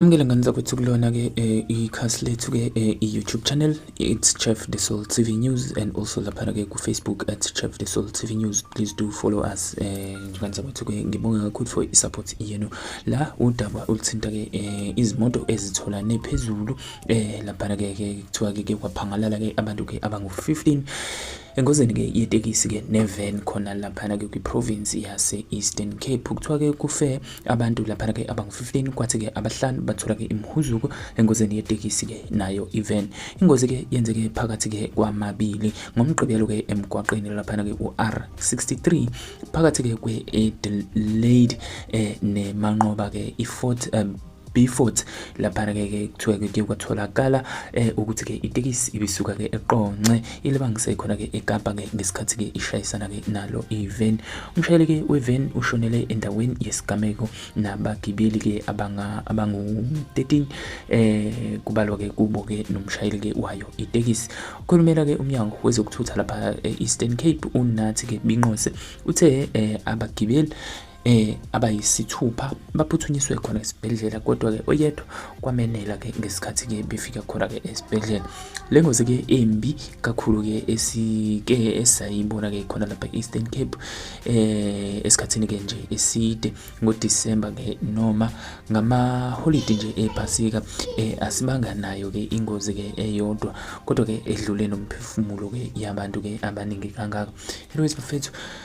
Amukela ngane zakwethu kulona ke eh, ikhasi lethu ke eh, i-YouTube channel it's Chef the Soul TV News and also lapha ke ku Facebook at Chef the Soul TV News please do follow us eh ngane zakwethu ke ngibonga kakhulu for i-support yenu la udaba oluthinta ke eh, izimoto ezithola nephezulu eh lapha ke kuthiwa ke kwaphangalala ke abantu ke abangu-15 Engozini ke yetekisi ke nevan khona laphana ke kwiprovince yase Eastern Cape kuthiwa ke kufe abantu laphana ke abangu-15 kwathi ke abahlanu bathola ke imhuzuko engozini yetekisi ke nayo ivan. Ingozi ke yenzeke phakathi ke kwamabili ngomgqibelo ke emgwaqeni laphana ke uR63 phakathi ke kwe-Adelaide eh, nemanqoba ke iFort um, Beaufort laphana ke ke kuthiwa ke kuye kwatholakala eh ukuthi ke itekisi ibisuka ke eqonce ilibangise khona ke eKapa ke ngesikhathi ke ishayisana ke nalo ivan umshayeli ke wevan ushonele endaweni yesigameko nabagibeli ke abanga abangu 13 eh kubalwa ke kubo ke nomshayeli ke wayo itekisi ukhulumela ke umnyango wezokuthutha lapha e-Eastern Cape unathi ke binqose uthe eh abagibeli eh abayisithupha baphuthunyiswe khona esibhedlela kodwa ke oyedwa kwamenela ke ngesikhathi ke befika khona ke esibhedlela le ngozi ke embi kakhulu ke esike esayibona ke khona lapha Eastern Cape eh esikhathini ke nje eside ngo December ke noma ngama holiday nje ephasika eh asibanga nayo ke ingozi ke eyodwa kodwa ke edlule nomphefumulo ke yabantu ke abaningi kangaka anyways bafethu